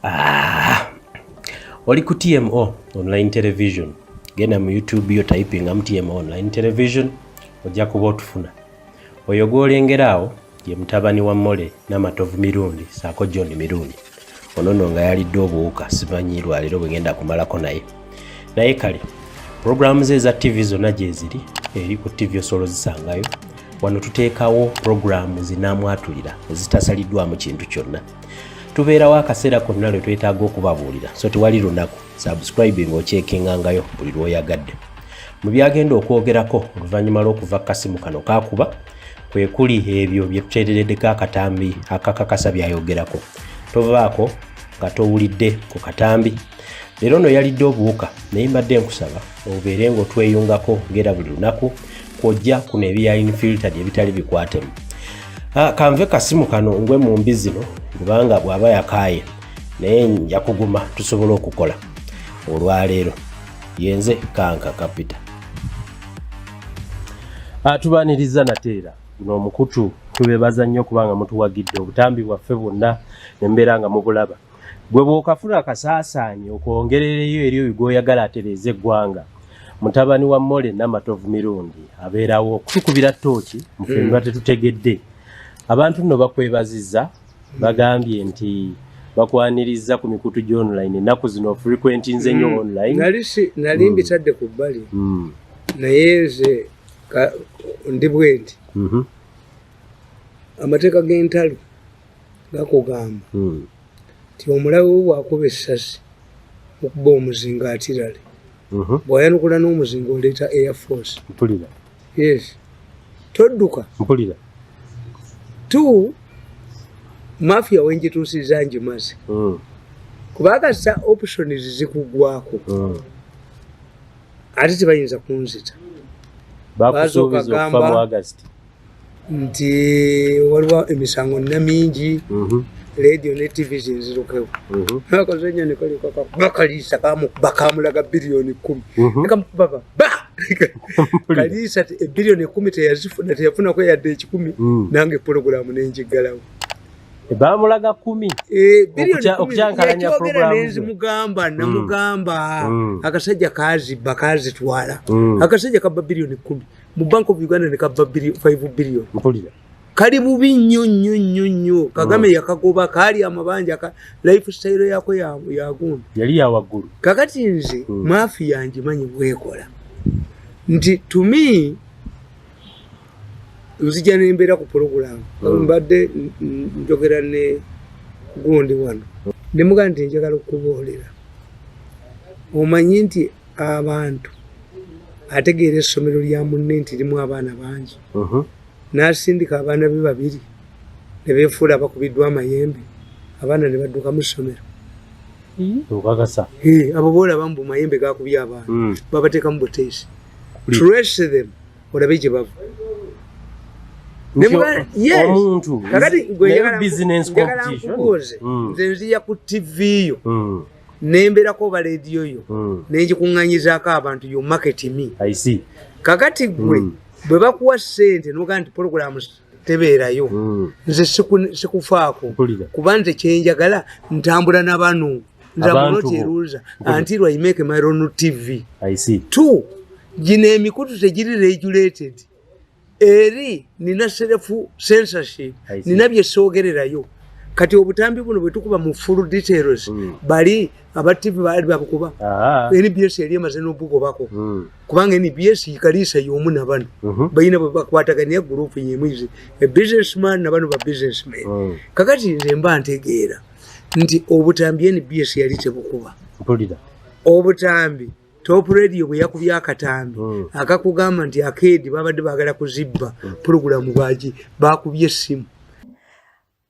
Ah, oli ku TMO online television genda mu YouTube yo typing am TMO online television ojja kuba otufuna. Oyo gw'olengera awo ye mutabani wa Mole Namatovu Mirundi saako John Mirundi. ono no nga yalidde obuwuka simanyi lwaleero bwegenda kumalako naye naye kale programu ze eza tv zonna gyeziri eri ku tv osobola ozisangayo wano tuteekawo programu zinamwatulira ezitasaliddwamu kintu kyonna tubeerawo akaseera konna lwe twetaaga okubabuulira so tewali lunaku subscribing okyekengangayo buli lwoyagadde mu byagenda okwogerako oluvannyuma lw'okuva kasimu kano kakuba kwe kuli ebyo bye tuteerereddeko akatambi akakakasa byayogerako tovaako nga towulidde ku katambi leero no yalidde obuwuka naye mbadde nkusaba obeere ngaotweyungako ngaera buli lunaku kwojja kuno ebiya infiltad ebitali bikwatemu ah, kanve kasimu kano ngwe mu mbi zino kubanga bw'aba yakaaye naye nja kuguma tusobole okukola olwaleero yenze kanka kapita atubaniriza ah, nateera Guno omukutu tubebaza nnyo kubanga mutuwagidde obutambi bwaffe bwonna ne mbeera nga mubulaba. Gwe bw'okafuna akasaasaanyi okwongerereyo eri oyo gw'oyagala atereeze eggwanga mutabani wa Mole Namatovu Mirundi abeerawo okutukubira ttooki mu ffe biba mm. tetutegedde. Abantu nno bakwebazizza bagambye nti bakwaniriza ku mikutu gyo online ennaku zino frequentinze nnyo mm. online. Nali mbitadde ku bbali mm. naye nze ndi bwendi mm-hmm. amateeka g'entalo gakugamba mm. nti omulabe we bwakuba essasi okuba omuzinga atirale mm-hmm. bwayanukula n'omuzinga oleeta air force mpulira yes todduka mpulira t mafia wenjituusiza njimazi mm. kubakasa options zikugwako mm. ate tebayinza kunzita bakusuubiza okufa mu agasiti nti waliwo emisango nina mingi mhm. radio ne tv zinzirukewo mhm. nakoze nyo nikolibakaliisa kamukuba kamulaga biliyoni kumi mhm. nekamukuba baba kaliisa ebiliyoni ekumi teyazifuna teyafunako yadde ekikumi mm. nange pulogulaamu nenjiggalawo bamulaga kumi eh, okukyankalanya programmugamba mm. namugamba mm. akasajja kazibba kazitwala mm. akasajja kaba biliyoni kumi mu bank of uganda ne kaba five biliyoni mpulira kali bubi nnyo nnyo nnyo nnyo kagame yakagoba kaali amabanja ka life style yako yagundi yali yawaggulu kakati nze maafi yangimanyi bwekola nti to me nzija nembeera ku pulogulaamu hmm. mbadde njogera ne gundi wano nemuga nti njagala okuboolera omanyi nti abantu ategeera essomero lya munne nti limu abaana bangi uh-huh. n'asindika abaana be babiri ne beefuula abakubiddwa amayembe abaana ne badduka mu ssomero hmm? okakasa abo boolaba mu bumayembe gakubye abaana hmm. babateekamu buteesi trace them olabe gye bava omuntuomuntugweyagalakubuuze hmm. nze nziya ku tivi yo hmm. nemberako oba lediyo yo hmm. nengikuŋŋanyizaako abantu yo market me kakati gwe bwe bakuwa sente nogaa nti programu tebeerayo hmm. nze sikufaako kuba nze kyenjagala ntambula na bano nzamunoteruza anti lwaimeke myron tv t gino emikutu tegiri regulated eri nina serefu censorship nina byesoogererayo kati obutambi buno bwetukuba mu full details hmm. bali aba tv baali babukuba nbs eri emaze nobugobako hmm. kubanga nbs kaliisa yomu nabano mhm. balina bwebakwatagania gurupu yemuize ebusinessman nabano ba businessman mm. kakati nze mba ntegeera nti obutambi nbs yali tebukuba obutambi top radio bweyakubya akatambi mm. akakugamba nti akeedi babadde bagala kuzibba mm. pulogulamu bwaki bakubye essimu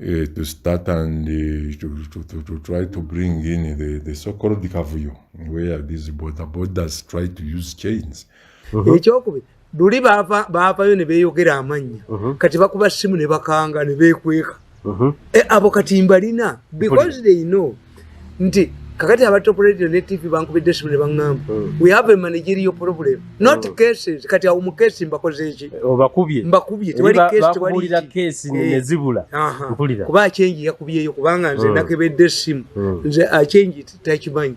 uh, to start and uh, to, to, to, to, try to bring in the, the so-called kavuyo where these border borders try to use chains uh-huh. ekyokubiri luli baavayo ne beeyogera amannya uh-huh. kati bakuba simu ne bakanga ne beekweka uh-huh. eh, abo kati mbalina because they know nti kakati aba top radio ne tv bankubidde esimu ne baŋŋamba hmm. we have a managerial problem not hmm. cases kati awo mu kesi mbakoze eki eh, obakubye mbakubye tewali kesi tewali kesi ne eh. zibula mpulira kuba achenji yakubyeyo kubanga nze hmm. nakebedde esimu nze achenji takimanyi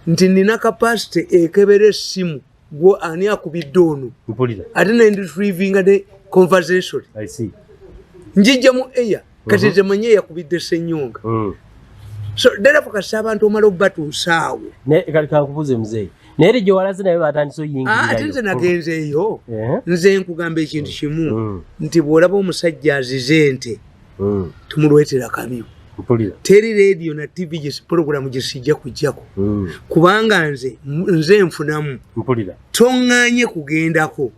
nti nina capacity ekebera esimu gwo ani akubidde ono ate naye ndi trivinga ne conversation njijja mu eya kati mhm. temanye yakubidde senyonga mm. so ddala fukasa abantu omala okubatuusaawo kakubuze muzeeyi naye eri gyewalaze naye batandise oyingirayo ate nze nagenzeeyo eh? nze nkugamba ekintu kimu mm. nti bw'olaba omusajja azize nte mm. tumulwetera kabi teri radio na tv gye program gye sijja kujjako mm. kubanga nze nze nfunamu toŋŋanye kugendako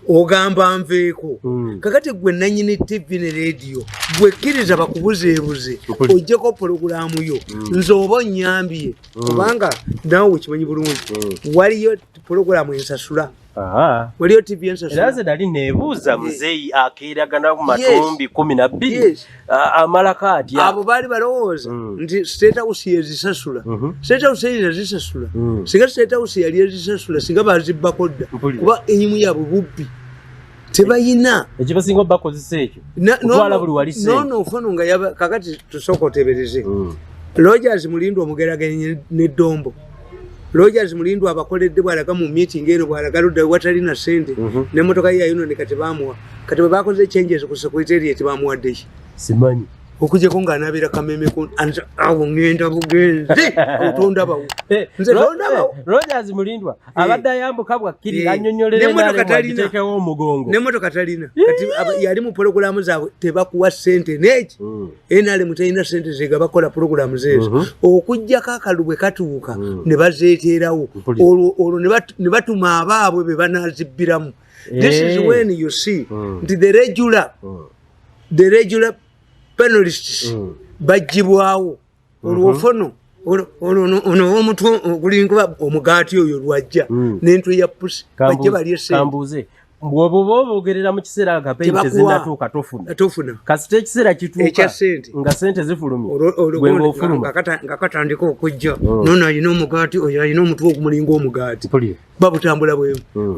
ogamba nveeko mm. kakati gwe nanyini tv ne radio gwekkiriza bakubuzeebuze ojjeko pulogulaamu yo mm. nze oba onyambye mm. kubanga nawe wekimanyi bulungi mm. waliyo pulogulaamu ensasula waliyo tv ensasulaze nali nebuuza muzeyi akeeragana ku matumbi kumi na bbiri amalako atya abo baali balowooza mm. nti state house yezisasula mhm. state house eyina zisasula mm. singa state house yali ezisasula singa bazibbako dda kuba enyimu yabwe bubbi tebayina ekibasinga bakozesa ekyo kutwala buli wali nono nkono nga yaba kakati tusooka otebereze mm. logers mulindwa omugeraganye ne dombo logers mulindwa abakoledde bwalaga mu meeting eno bwalaga ludda watali na sente mm -hmm. ne motoka ye yayonone kati bamuwa kati bwe bakoze changes ku secretariat bamuwaddeki simanyi okujeko nga anabera kameme ku awo ngenda bugenzi otondabawo eh, nze tondabawo eh, rogers mulindwa Eh. abadde ayambuka bwakkirira eh. annyonyolerenetekewo omugongo nemotoka talina kati eh. yali mu pologulamu zaabwe tebakuwa sente neki hmm. nrm talina sente zega bakola pologulamu zeezo mhm. okugjako akalu bwe katuuka hmm. ne bazeeteerawo olwo ne batuma abaabwe be banazibbiramu this is when you see hmm. nti the regular the regular penalists bajjibwawo olwofono ono omutwe ogulinga omugaati oyo lwajja hmm. nentwe ya pusi bajje balye sente bwoba oba obogerera mu kiseera nga peyi tezinatuuka tofuna tofuna kasita ekiseera kituuka nga sente zifulumye gweba ofuluma nga katandika okujja hmm. nono alina omugaati oyo alina omutwe ogumulinga omugaati babutambula bwemu hmm.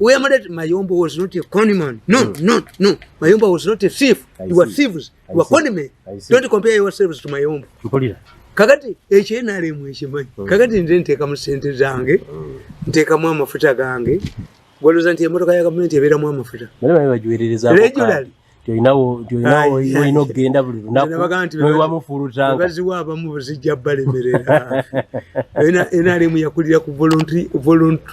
weyamulete mayombo was not a conman no no no mayombo was not a thief you were thieves wakonime don't compare yourselves to my own mpulira kakati ekyo enalemu ekimanyi mm. kakati nze ntekamu sente zange mm. ntekamu amafuta gange gwaloza nti emotoka ya gavumenti ebeeramu amafuta olina okugenda buli lunakubaziwa abamu buzijja balemerera enalemu yakulira ku voluntu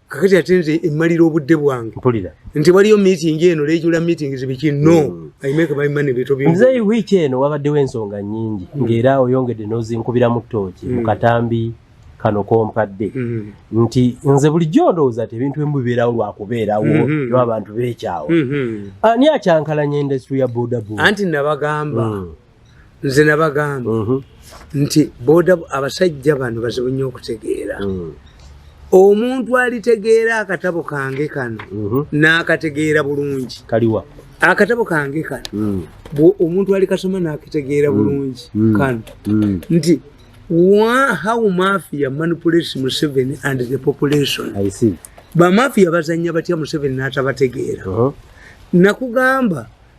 kakati ate nze emmalira obudde bwange mpulira nti waliyo meeting eno lejula meeting zibiki no mm. i make my money bito bi nze week eno wabaddewo ensonga nyingi mm. ng'era oyongedde n'ozinkubira mu ttooki mm. mu katambi kano kompadde mm. nti nze bulijjo ndowooza ti ebintu emu bibeerawo lwakubeerawo mm -hmm. yo abantu beekyawa mm -hmm. ani akyankalanya industry ya bodaboda anti nabagamba mm. nze nabagamba mhm. nti boda abasajja bano bazibu nnyo okutegeera mm. omuntu alitegeera akatabo kange kano mhm. n'akategeera bulungi kaliwa akatabo kange kano mm. omuntu alikasoma n'akitegeera mm. bulungi kano nti how mafia manipulates museveni and the population bamafia bazanya batya museveni n'atabategeera uh-huh. nakugamba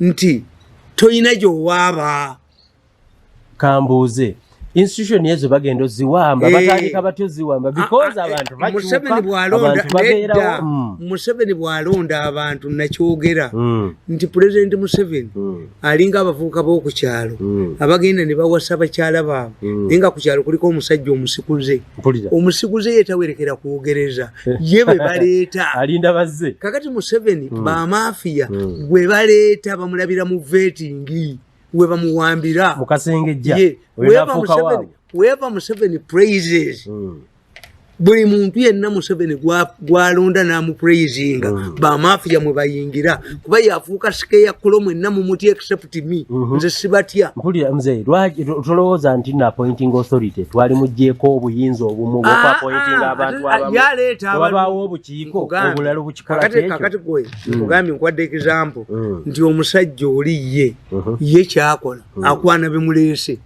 nti tolina gyowaaba kambuuze institution ezo bagenda oziwamba eh. batandika batya oziwamba ah, because ah, eh, abantu bakyukamuseveni bwalonda hmm. abantu nakyogera hmm. nti pulezidenti museveni hmm. alinga abavubuka b'okukyalo abagenda ne bawasa bakyala baabwe naye nga ku kyalo kuliko omusajja omusikuze omusikuze yetawerekera kwogereza ye bwe baleeta alinda bazze kakati museveni mm. bamafiya mm. gwe baleeta bamulabira mu vetingi we bamuwambira mukasengejja weva museveni praises mm. buli muntu yenna museveni gwalonda namupraisinga mm. bamafiya mwe bayingira kuba yafuuka sikeya kulo mwenna mumuti except me mhm. nze sibatya mpulira mzee lwaki tolowooza nti na appointing authority twali mujjeeko obuyinza obumu ah, bwokwapointinga ah, abantu ah, abamuwabaawo obukiiko obulala obukikolakkakati gwe mm. nkugambye nkwadde example mm. nti omusajja oli ye mhm. ye kyakola mm. akwana bimuleese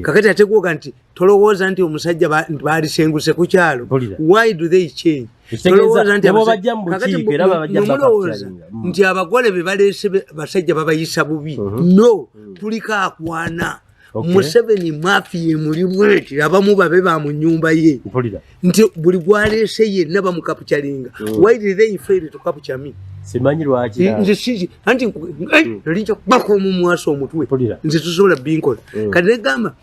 kakati ategwoga nti tolowooza nti omusajja baalisenguse ku kyalo why do they change tolowoozamulowoza mm. nti abagole be baleese basajja babayisa bubi mhm. no mm. tuliko akwana museveni mafiya emulimweti abamu babe ba mu nyumba ye nti buli gwaleese yenna bamukapucalinga mm. why did they fail to capture me simanyi lwaki nze sisi anti eh, hmm. nali nja kubaka omumwasa omutwe nze tusobola binkola hmm. kati negamba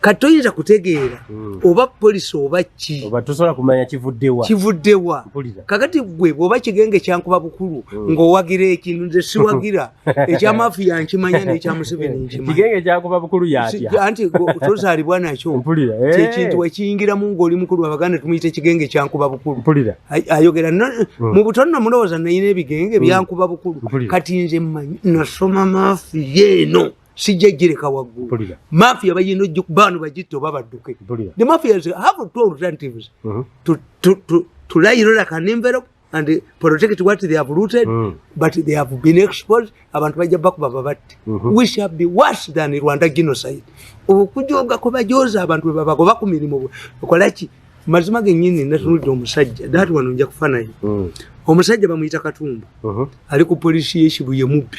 kati toyinza kutegeera hmm. oba polisi oba ki oba tosobola kumanya kivuddewa kivuddewa kakati gwe bwoba kigenge kyankuba bukulu hmm. ng'owagira ekintu nze siwagira ekyamafiya nkimanya n'ekyamuseveni nkimanyakigenge kyankuba bukulu yatya anti tozaalibwa nakyo eh. kyekintu wekiyingiramu ng'oli mukulu abaganda tumuyita ekigenge kyankuba bukulu ayogera hmm. mu butonno mulowooza nayina ebigenge byankuba bukulu kati nze manyi nasoma mafiya eno sijja jireka waggulu mafia bayina baano bagitta oba badduke the mafia is have two alternatives mm -hmm. to, to, to, to lie roll like an envelope and protect what they have looted mm. but they have been exposed abantu bajja bakuba babatte mm -hmm. we shall be worse than rwanda genocide okujoga kubajoza abantu bebabagoba ku mirimu okolaki mazima genyini natunudde omusajja dati wano nja kufa naye mm. omusajja bamuyita katumba uh -huh. ali ku polisi yekibuye mubbi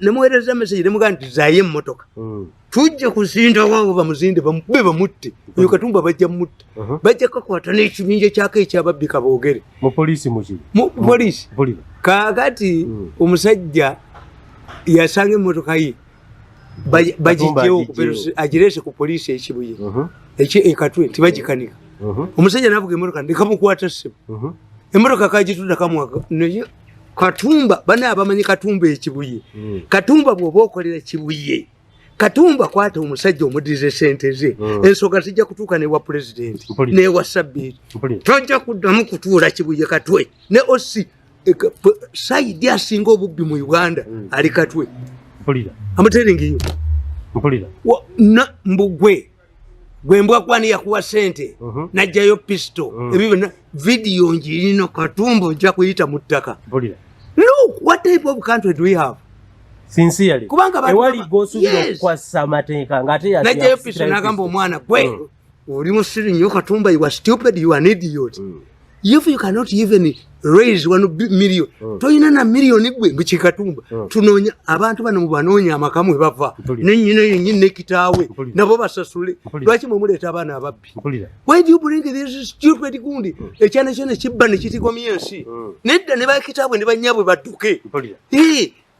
nemuwereza message nemuga nti zaye emmotoka hmm. tujja kuzinda waabo bamuzinde bamube bamutte hmm. oyo katumba bajja mutta uh-huh. bajja kakwata n'ekibinja kyako ekyababbi kaboogere mupoliisi mupoliisi kakati hmm. omusajja yasanga emmotoka ye bagijjewo agireese ku poliisi ekibuye uh-huh. ekatwe nti bagikanika uh-huh. omusajja navuga emmotoka ndekamukwata ssebo emmotoka kagitunda kamwaka naye katumba bana abamanyi katumba ekibuye mm. katumba bwoba okolera kibuye katumba kwata omusajja omudize sente ze mm. ensoga zijja kutuuka newa pulezidenti newa sabbiiti tojja kuddamu kutuula kibuye katwe ne osi e, saidi asinga obubbi mu uganda mm. ali katwe amuteeringiyo mbugwe gwe mbwa kwani yakuwa sente uh mhm. -huh. najjayo pisto uh mhm. -huh. ebibyo vidiyo njirino katumbo nja kuyita mu ttaka look what type of country do we have sincerely kubanga ewali gosubira yes. okukwasa amateeka nga ate najjayo pisto nagamba omwana gwe uh mhm. -huh. oli musiri nyo katumba you are stupid you are an idiot uh -huh. if you cannot even raise one million mm. toyina na million gwe mukikatumba mm. tunonya abantu bano mubanonya amakamu webava nenyina yenyini nekitaawe nabo basasule lwaki mwemuleeta abaana ababbi why do you bring this stupid gundi mm. ekyana kyona kibba nekitikomya ensi mm. nedda ne bakitaabwe ne banyabwe badduke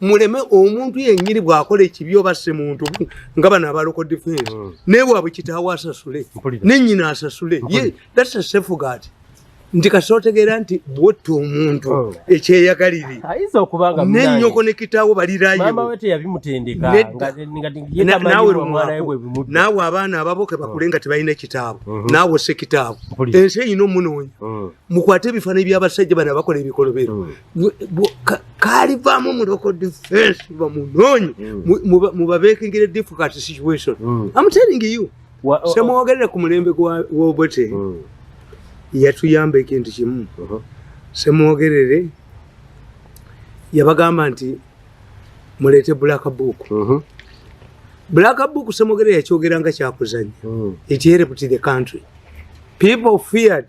muleme omuntu yenyini bwakola ekibi oba si muntu nga bano abaloko defense mm. naye waabwe kitaawo asasule nenyina asasule ye that's a safe guard nti kasotegeera nti bwotta omuntu oh. ekyeyagalire nenyoko ne kitaawo balirayonaawe abaana ababo kebakule nga tebalina ekitaawo mm-hmm. naawe osse kitaawo ensi eyina omunoonya mm. mukwate ebifaana ebyabasajja bana bakola ebikolobero mm. kalivaamu muloko defense bamunoonyi hmm. mubabekingire difficult situation hmm. am telling you semwogerera ku mulembe gwobote hmm. yatuyamba ekintu kimu uh-huh. semwogerere yabagamba nti muleete black book uh-huh. black book semwogerere yakyogera nga kyakuzanya it helped the country people feared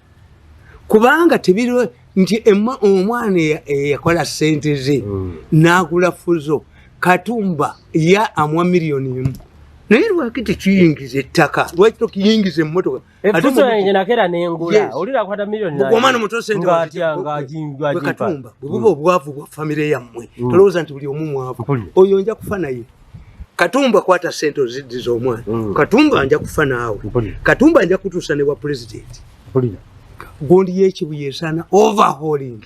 kubanga tebiri nti omwana eyakola sente ze hmm. nagula fuzo katumba ya amwa miliyoni emu naye lwaki tekiyingiza ettaka lwaki tokiyingiza emmotoka omwana mutosenteakatumba bwebuba obwavu bwa famire yammwe hmm. tolowooza nti buli omu mwavu oyo nja kufa naye katumba kwata sente oziddi z'omwana mm. katumba anja kufa naawe katumba anja kutuusa ne bwa pulezidenti gundi yekibuye esaana overhauling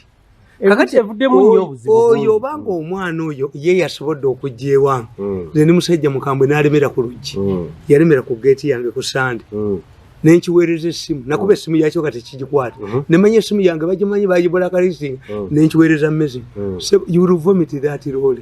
oyo obanga omwana oyo ye yasobodde okujja ewange mm. nze ni musajja mukambwe nalemera ku luggi mm. yalemera ku geeti yange ku sande mm. nenkiweereza essimu nakuba essimu yakyo kati kigikwata mm-hmm. nemanya essimu yange bagimanyi bagibulakalisinga nenkiweereza mezi you will vomit that role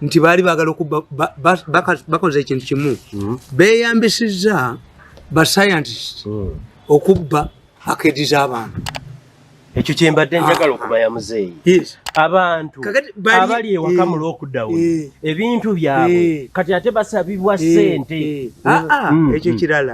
nti baali bagala okuba bakoze ekintu kimu hmm. beyambisizza bascientist hmm. okubba akedi z'abantu ekyo kyembadde njagala ah. okuba ya muzeeyi abantu abali ewaka mu eh, lockdown eh. ebintu byabwe eh. kati ate basabibwa sente ah, ah, hmm, ekyo kirala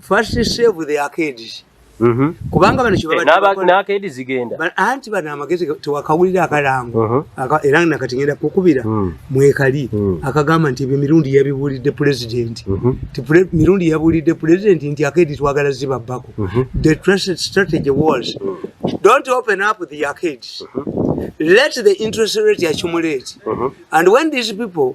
first save the arcades Mhm. kubanga bano kyebabaakedi zigenda anti bano amagezi tewakawulira akalango mhm. era nakati ngenda kukubira mhm. mwekali akagamba nti ebyo mirundi yabibuulidde pulezidenti ti mirundi yabuulidde pulezidenti nti akedi twagala zibabbako the trusted strategy was don't open up the arcades let the interest rate accumulate and when these people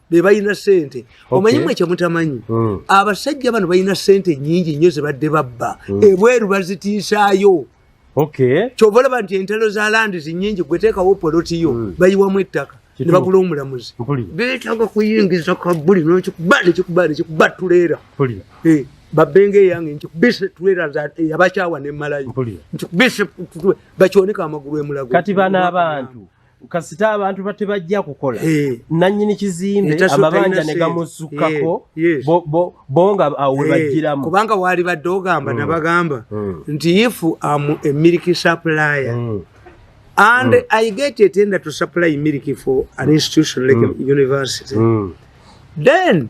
bebalina sente omanyi mwe kyemutamanyi hmm. abasajja bano balina sente nyingi nnyo zebadde babba hmm. ebweru bazitiisaayo kyova olaba nti entalo za landi zinyingi gweteekawo poloti yo hmm. bayiwamu ettaka nebagula omulamuzi betaga kuyingiza kabuli nokikuba nekikuba nekikuba tuleera eh, babenga eyange nkikubise tuleera yabakyawa nemalayo nkikubise bakyoneka amagulu emulago kati bana abantu kasita abantu batebajja kukola eh. nanyini kizimbe eh, amabanja negamusukako eh, bonga awebajiramu kubanga wali badde ogamba mm. nabagamba mm. nti if am a milk supplier mm. and i get a tender to supply milk for an institution like a university then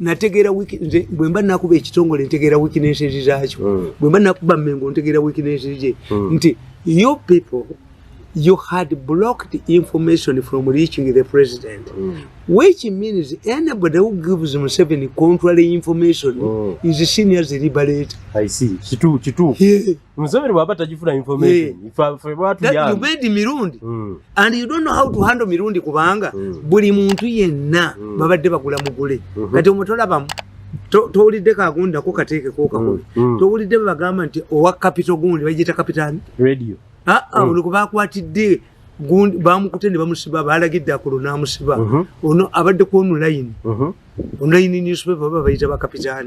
nategeera nze bwe mba nakuba ekitongole ntegeera wikinesezi zaakyo hmm. bwe mba nakuba mengo ntegeera wikinesezi gye hmm. nti your people you had blocked information from reaching the president mm. which means anybody who gives museveni contrary information mm. is senior zilibarate i see kitu kitu yeah. Museveni waba tajifuna information. Yeah. If I for what you are. You made Mirundi. Mm. And you don't know how to handle Mirundi kubanga mm. buli muntu yenna mm. babadde bagula mugule. Mm -hmm. Kati omutola bamu towulidde kagunda ko kateeke ko kakulu mm. mm. towulidde bagamba nti owa capital gundi bagiyita capital radio ah ah mm. oluko bakwatidde gundi bamukute ne bamusiba balagidde akulo namusiba mm -hmm. ono abadde ku online mm -hmm. online newspaper baba bayita ba capital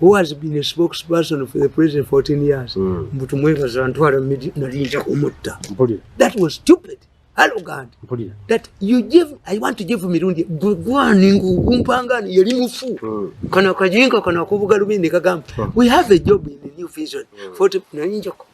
who has been a spokesperson for the president 14 years mm. mbu tumwebaza ntwala nalinja kumutta that was stupid arrogant that you give i want to give mirundi gugwani ngugumpangani yali mufu mm. kana kajinka kana kubuga lubindi kagamba mm. we have a job in the new vision mm. 40 nalinja kumutta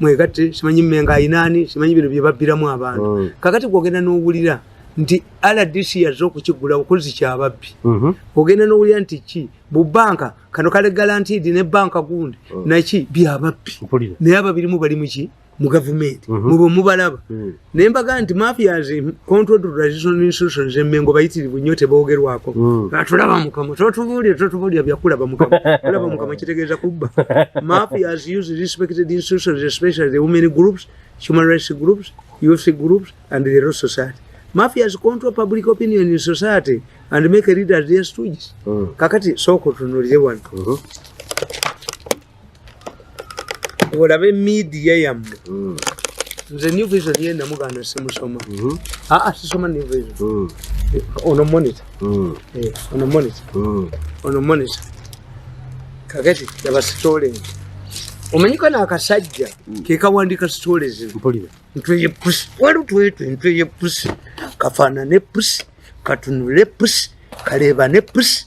mwegatte simanyi mmenga ayinaani simanyi bino bye babbiramu abantu mm. kakati gwogenda n'owulira nti rdc yazze okukigula okozi kyababbi mm-hmm. ogenda n'owulira nti ki bu banka kano kale galantidi ne banka gundi mm. naki byababbi naye ababirimu bali muki mu gavumenti mm-hmm. mube mubalaba mm. naye mbaga nti mafias control to traditional institutions emengo bayitirivu nnyo tebogerwako hmm. atulaba mukama totubuulira totubuulira byakulaba mukama kulaba mukama kitegeeza kubba mafias use respected institutions especially the women groups human rights groups youth groups and the law society mafias control public opinion in society and make leaders their stooges hmm. kakati sooka otunulire wano uh-huh. olabe midiya yammwe mm. nze new vision ye namuganda simusoma mm-hmm. aa ah, ah, sisoma new vision mm. eh, ono monitor mm. eh, ono monitor ono monitor kakati yaba stolen omanyiko nakasajja kekawandika stolen ntweye pusi wali twetwe ntweye pusi kafanane pusi katunule pusi kalebane pusi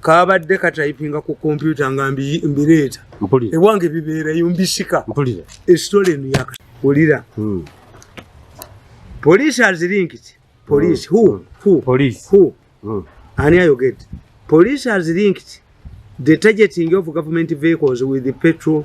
kabadde katayipinga ku kompyuta nga mbireeta ewange bibeerayo mbisika esitole eno yakawulira hmm. poliisi azirinkiti poliisi hmm. hu hmm. ani ayogedde poliisi azirinkiti the targeting of government vehicles with the petrol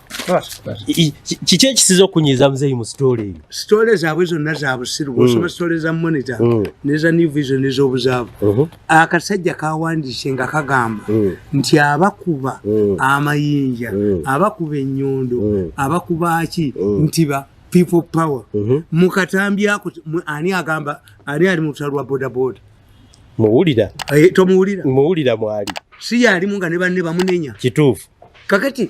kiki ekisiza okunyiza muzeeyi mu sitole eyo sitole zaabwe zonna za busiru bwosoma mm. sitole za monita mm. neza new vision ez'obuzaabu uh-huh. akasajja kawandiise nga kagamba mm. nti abakuba amayinja abakuba ennyondo abakuba ki nti ba people power uh-huh. mu katambi ako ani agamba ani ali mu lutalo lwa bodaboda muwulira eh, tomuwulira muwulira mwali si yaalimu nga ne banne bamunenya kituufu kakati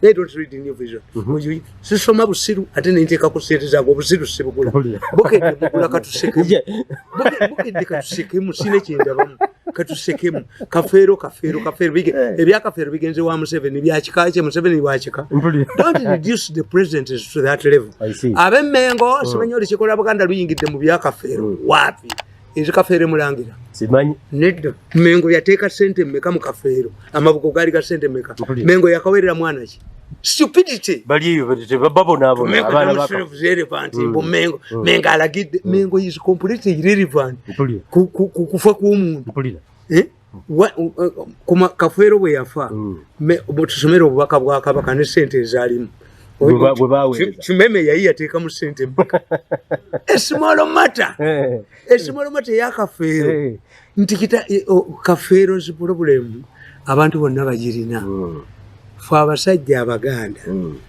they don't read new vision mm-hmm. oyo sisoma busiru ate nenteka kuseerezaga obusiru sibugula bukedde bugula katusekemu bukedde katusekemu sina ekyendabamu katusekemu kafeero kafeero kafeero bige eh. ebyakafeero bigenze wa museveni byakika kye museveni wakika don't reduce the president to that level abemengo oh. simanyi olikikola buganda luyingidde mu byakafeero mm. wapi Ezi kafeere mulangira. Simanyi. Nedda. Mengo yateeka sente mmeka mu kafeero. Amabugo gaali ga sente mmeka. Mengo yakawerera mwana ki? Stupidity. Bali eyo babo n'abo. Mengo abaana baka. Mengo is irrelevant. Mm. Mbu Mengo. Mm. Mengo alagidde. Mm. Mengo is completely irrelevant. Mpulira. Kufa kw'omuntu. Mpulira. Eh? kafeero bwe yafa mm. tusomere obubaka bwa kabaka ne sente ezaalimu kimeme yayi yateeka mu sente mpaka esimolo mata eh. esimolo mata eya kafeero eh. nti kita e, kafeero nsi pulobulemu abantu bonna bagirina mm. fe abasajja abaganda mm.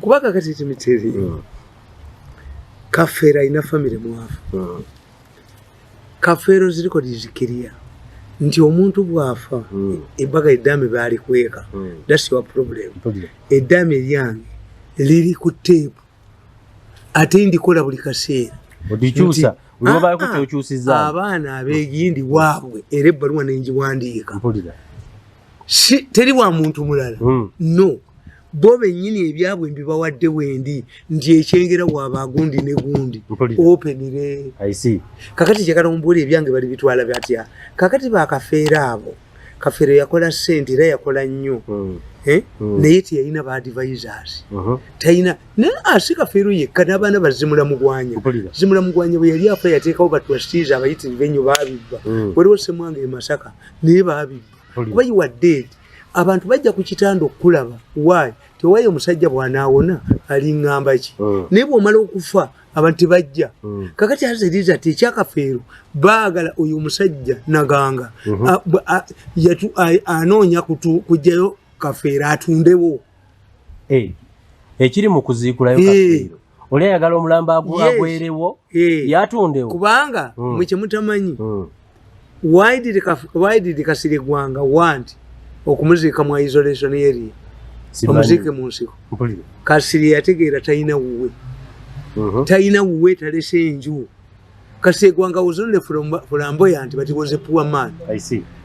kuba kakati timiteri mm. kafeero alina famire mwavu mm. kafeero ziriko lizikiriya nti omuntu bwafa mm. ebaga eddaame baalikweka mm. thats your problem eddaame eryange liri ku teepu ate ndikola buli kaseera odikyusa abaana abegindi waabwe era ebbaluwa nenjiwandiika si teri wa muntu mulala hmm. no bo bennyini ebyabwe mbibawadde wendi nti ekyengera waaba agundi ne gundi openire kakati kyekana omubuli ebyange bali bitwala batya kakati bakafeera abo kafeero yakola sente era yakola nnyo hmm. Eh? Hmm. naye teyalina baadvisors uh-huh. talina naye asi kafeero yekka n'abaana bazimula mugwanya zimula mugwanya bwe yali afa yateekawo batwasitiiza abayitirive nnyo baabibba waliwo semwanga e masaka naye baabibba kuba you are dead abantu bajja ku kitanda okukulaba wayi tewayi omusajja bwanaawona aliŋŋamba ki hmm. naye bwomala okufa abantu tebajja hmm. kakati aziriza ti ekyakafeero baagala oyo omusajja naganga mhm. anoonya kujjayo kafeero atundewo ekiri mu kuziikulayo kafeero oli ayagala omulambo agwerewo eh. yatundewo kubanga mm. mwe kyemutamanyi mm. waididi kasiri gwanga wanti okumuziika mu isolation area omuziike mu nsiko kasiri yategeera talina wuwe mhm. talina wuwe talese enju kasiri egwanga wuzonne fulamboya nti bati was a poor man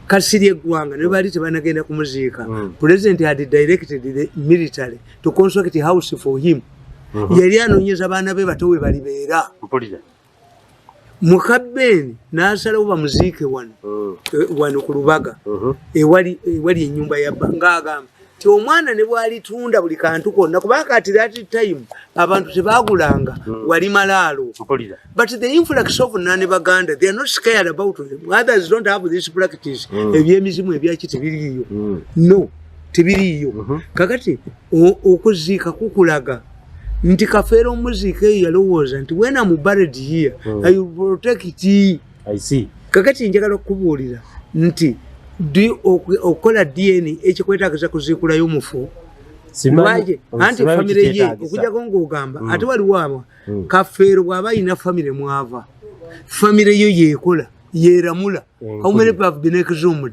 kasiri egwanga naye baali tebanagenda kumuziika mm. president had directed the military to construct house for him mhm. yali anonyeza baana be bato we balibeera mukabeeni nasalawo bamuziike wano mm. eh, wano ku lubaga mhm. ewali enyumba yabba ngaagamba ti omwana ne bwalitunda buli kantu konna kuba kati that time abantu tebagulanga mm. wali malaalo but the influx of nane baganda they are not scared about them others don't have this practice mm. ebyemizimu ebyaki tebiriiyo no tebiriiyo mhm. kakati okuziika kukulaga nti kafeera omuziika eyo yalowooza nti wena mu bared here hmm. i protect kakati njagala okukubuulira nti okukola dna ekikwetagiza kuziikulayo omufu lwaki anti famire ye okujako ngaogamba hmm. ate waliwo abo hmm. kafeero bw'aba alina famire mwava famire yo yeekola yeeramula how many have been exhumed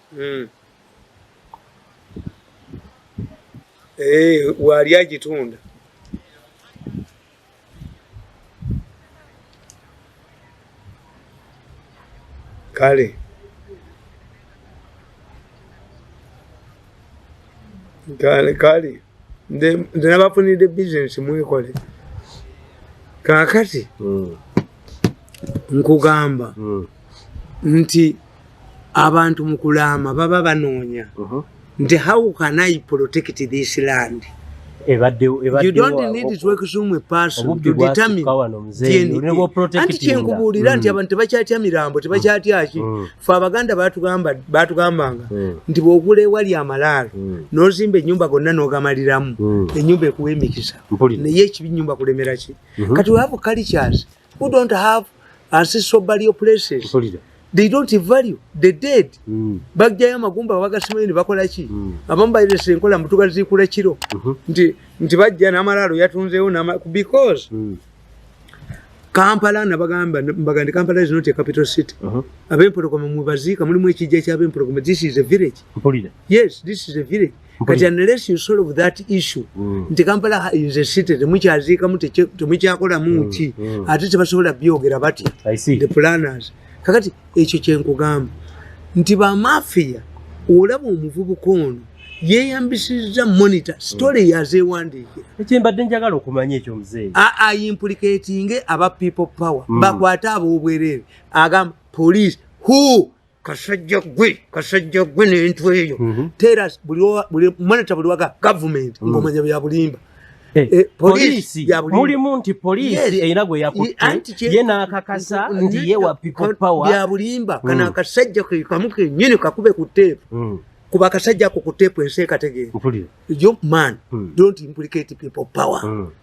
mm. hey, eh, waali agitunda kale kale kale ndenabafunidde business mwekole kakati mm. nkugamba mm. nti abantu mu kulaama baba banoonya mhm. nti how can i protect this land anti kyenkubuulira nti mm. abantu tebakyatya mirambo tebakyatyaki mm. mm. fe abaganda batugambanga nti bwogula ewali amalaalo nozimba enyumba gonna nogamaliramu enyumba ekuwa emikisa naye ekibi nyumba kulemeraki mm-hmm. kati weavu cultures who don't have ancestral burial places Solida. they don't value the dead mm. bagjayo amagumba bagasimayo ne bakola ki mm. abamu bayiresa enkola mutuga ziikula kiro mm -hmm. nti, nti bajja n'amalaalo yatunzeewo because mm. kampala nabagamba mbagandi kampala is not a capital city uh -huh. abempologoma mwebaziika mulimu ekijja kyabempologoma this is a village Mpolida. yes this is a village but unless you solve that issue mm. nti kampala is a city temukyaziikamu temukyakolamu mm, ki mm. ate tebasobola byogera batya the planners kakati ekyo kyenkugamba nti bamafiya olaba omuvubuka ono yeyambisizza monitor story mm. yazewandiikira ekyembadde njagala okumanya ekyo mzee aimplicatinge aba people power mm. bakwate abobwerere agamba police who kasajja gwe kasajja gwe nentu eyo mhm. tera buli monita buli waga gavumenti mm. ngomanya byabulimba eh, eh, polisi mulimu nti polisi erina gwe yakutte ye n'akakasa nti ye wa people power byabulimba kana mm. akasajja ke kamu kenyini kakube ku teepu mm. kuba akasajja ako ku teepu ensi ekategeera yo man don't implicate people power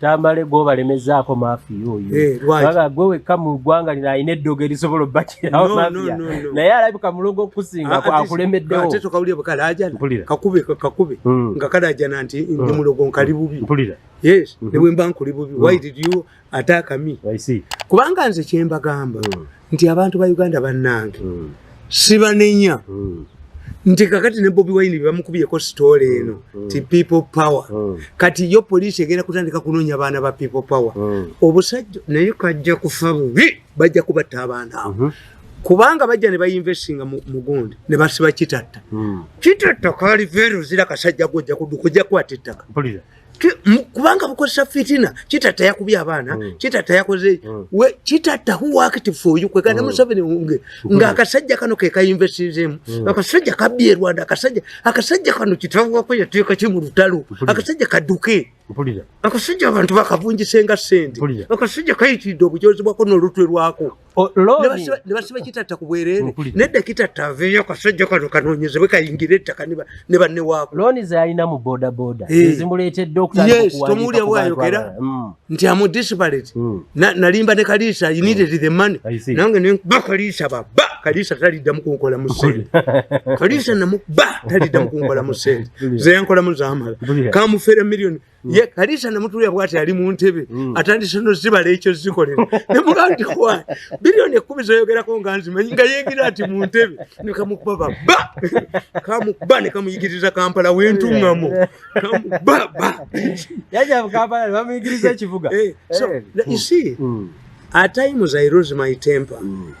tamale gwobalemezaako mafiya oyo eh, baba gwe wekka mu ggwanga lino alina eddogo erisobola obbakirawo mafiya naye alabika mulongo okusinga ah, akulemeddewokakubeakakube hmm. nga kalajana nti ndi hmm. mulogo nkali bubi yes hmm. nebwemba nkuli bubi why did you attack me kubanga nze kyembagamba nti abantu ba uganda bannange mm. sibanenya mm. nti kakati ne bobi wine bebamukubiyeko sitoola eno mm. ti people power mm. kati yo poliisi egenda kutandika kunoonya abaana ba people power mm. obusajja naye kajja kufa bubi bajja kubatta abaana abo mm -hmm. kubanga bajja ne bayinvestinga mugundi ne basiba kitatta mm. kitatta kali verozira kasajja gojja kuduka ojja kwata ettaka kubanga bukozesa fitina kitatta yakubye abaana mm. kitatta yakoze mm. we kitatta who worked for you kwe kana mm. museveni unge mm. nga akasajja kano ke ka investizemu mm. akasajja kabye rwanda akasajja akasajja kano kitavwa ko yateka ki mu lutalo akasajja kaduke akasajja abantu bakavunjise nga sente akasajja kayitidde obujozi bwako n'olutwe lwako nebasiba kitatta kubwerere nedda kitatta aveyo kasajja kano kanonyezebwe kayingire ettaka ne banne waako looni zalina mu bodaboda eh. ezimuleetedde okutandikaomuwulira bwayogera mm. nti amu disparate mm. nalimba ne kaliisa you needed mm. the money nange nba kaliisa baba kaliisa talidda mukunkola mu sente kaliisa namuba talidda mukunkola mu sente zeyankolamu zamala kamufere millioni ye kalisa namutulira bwati ali mu ntebe mm. atandise no zibala ekyo zikolera ne muganti kwa bilioni ekumi zoyogerako nga nzimanyi nga yegira ati mu ntebe ne kamukuba ba ba kamukuba ne kamuyigiriza kampala wentungamo kamukuba ba yaja mu kampala bamuyigiriza ekivuga eh, so eh. you see mm. at times i lose my temper mm.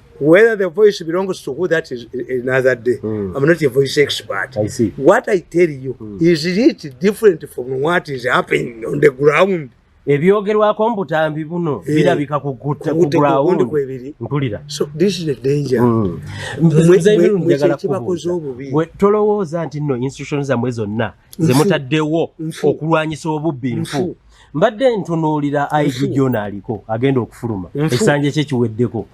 whether the voice belongs to who that is another day mm. i'm not a voice expert I see. what i tell you mm. is it different from what is happening on the ground ebyogerwako mbutambi buno eh, birabika kugutagulawundi mpulira hmm. tolowooza nti nno institution zamwe zonna zemutaddewo okulwanyisa obubbi nfu mbadde ntunuulira ig gyona aliko agenda okufuluma ekisanja kye kiweddeko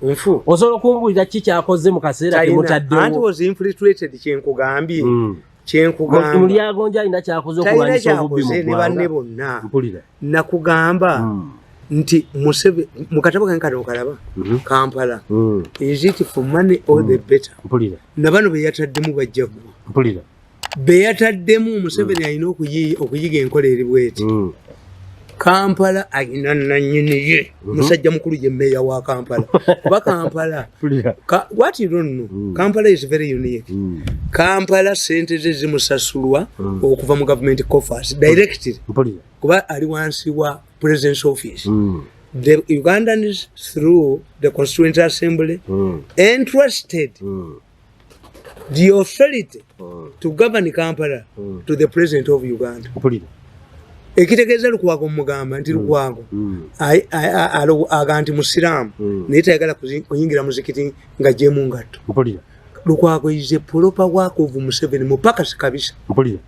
osobola okumbulira ki kyakoze mu kaseera kemutaddewokynkugambye hmm. mulyagonja alina kyakoze okulwanyisa obubbi mu banne bonna nakugamba hmm. nti museve mukatabo kange kano okalaba mhm. kampala hmm. is it for money or the better nabano beyataddemu bajjagwa beyataddemu museveni mm. alina okuyiga enkola eri bweti mm. kampala alina nanyiniye mhm. musajja mukulu ye meeya wa kampala kuba kampala wat donno mm. kampala is very unique kampala sente ze zimusasulwa okuva mu gavumenti coffers directly kuba ali wansi wa presidence office the ugandans through the constituent assembly entrusted the authority mm. to govern Kampala mm. to the president of Uganda. Upulira. Ekitegeeza Lukwago mugamba nti mm. Lukwago mm. aga nti Musiraamu mm. naye tayagala kuyingira muzikiti nga gyemu ngatto. Mpulira. Lukwago is a proper work of Museveni mupakasi kabisa. Mpulira.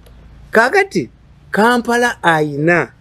Kaagati Kampala ayina.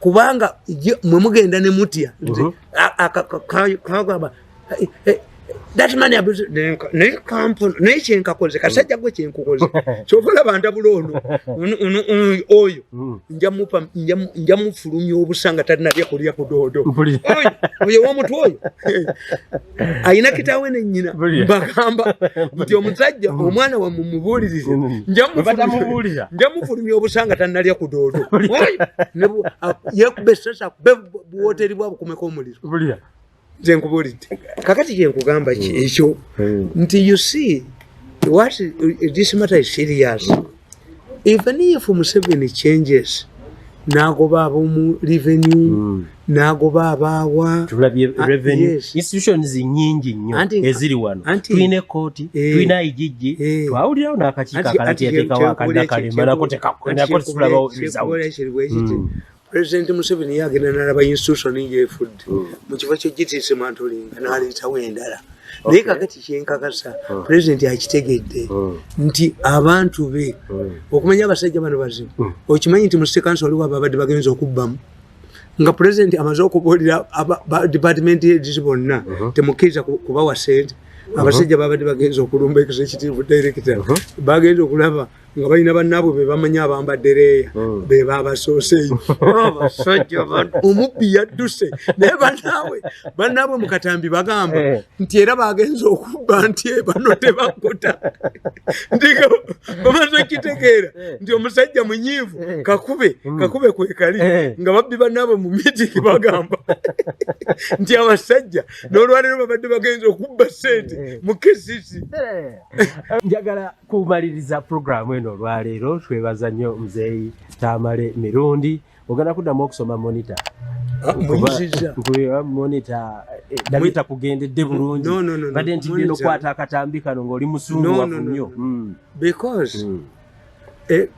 kubanga mwe mugenda ne mutya mhm. eh, eh, naye kampuni naye kyenkakoze kasajja gwe kyenkukoze kyova olaba ndabula ono oyo mm. nja mufulumya obusa nga talina byakulya kudoodo oyo womutwe oyo alina kitaawe ne nnyina mbagamba nti omusajja mm. omwana wamwe mubuulirize mm. njamufulumya obusanga tannalya ku doodo yekuba esasa kube buwoteeri bwa bukumeko omuliro nze nkubuulidde kakati kyenkugamba mm. ekyo nti you see what this matter is serious even if museveni changes nagoba abomu revenue mm. nagoba abaawa tulabye ah, revenue yes. institutions nyingi nnyo eziri wano tulina ekooti eh, tulina igigi eh, twawulirawo n'akakiiko akalati yateekawo akadda kale nakotekakulabawo mm. president museveni ye agenda nalaba institution ngefudde hmm. mu kifo kyogitiisimantulinga naleetawo endala naye kakati kyenkakasa hmm. president akitegedde hmm. nti abantu be okumanya abasajja bano bazibu okimanyi nti musekansi waliwo abo abadde bagenza okubbamu nga president amaze okubuulira department edisi bonna uh-huh. temukkiriza kubawa sente uh-huh. abasajja babadde bagenza okulumba ekisa ekitiivu director uh-huh. bagenza okulaba nga balina bannaabwe be bamanyi abambadde leeya hmm. be baabasooseeyo abasajja omubbi yadduse naye bannaabwe bannaabwe mu katambi bagamba eh. nti era baagenza okubba nti eh, bano tebakuta ndiko bamaze okitegeera eh. nti omusajja munyiivu kakube hmm. kakube kwekali nga babbi bannaabwe mu mitiki bagamba nti abasajja n'olwaleero babadde bagenza okubba ssente mu kesisi njagala kumaliriza pulogulaamu eno olwaleero twebaza nnyo muzeeyi tamale mirundi ogenda kuddamu okusoma monita ah, monita eh, dabita kugendedde bulungi badde nti genda okukwata akatambi kano ngaoli musunguwafu nnyo hmm. because hmm. Eh,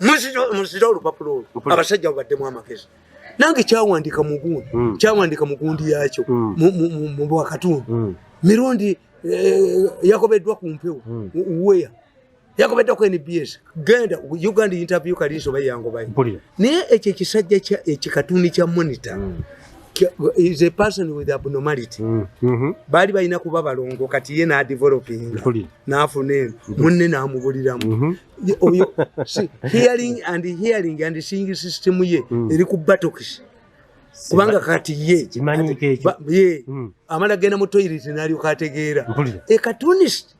muzira olupapula olwo abasajja babaddemu amagezi nange kyawandika mugundi hmm. kyawandika mugundi yakyo hmm. mubwakatundu hmm. mirundi eh, yakobeddwa ku mpewo weya yakobeddwa ku nbs genda uganda interview kalinsi oba yangobayo naye ekyo ekisajja ekikatuni kya monitor is a person with abnormality mm, mm-hmm. baali balina kuba balongo kati ye nadevelopinga nafuna eno mm-hmm. munne namubuliramu mm-hmm. oyo hearing and hearing and seeing system ye mm. eri ku batokisi kubanga kati ye ye mm. amala genda mu toilet nalyoka ategeera e cartoonist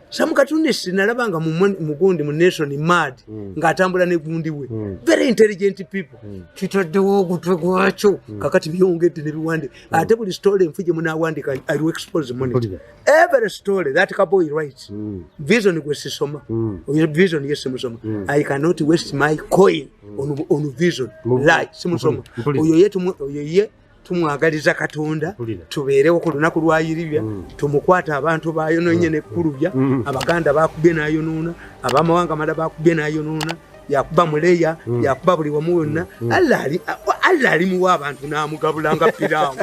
some cartoonist nalaba nga mugundi mu nation mad mm. ng'atambula ne gundi we mm. very intelligent people mm. kitaddewo ogutwe gwakyo mm. kakati byongedde ne biwande mm. ate buli story enfu gye munaawandika i will expose money every story that couple he writes mm. vision gwe sisoma mm. vision ye simusoma mm. i cannot waste my coin mm. on, on vision mm. lie simusoma oyo ye oyo ye tumwagaliza katonda tubeerewo ku lunaku lwa yiribya mm. tumukwata abantu bayononye mm. nekkulubya mm. abaganda bakubye nayonoona abamawanga mala bakubye nayonoona yakuba muleya mm. yakuba buli wamu wonna mm. mm. allah alimuwa abantu namugabulanga pirawo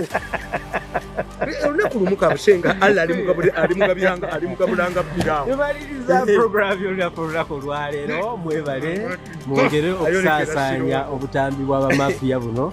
olunaku lumu kabusenga allah alimugabiranga alimugabulanga pirawo mwebale mwongere okusasanya obutambi bwabamafiya buno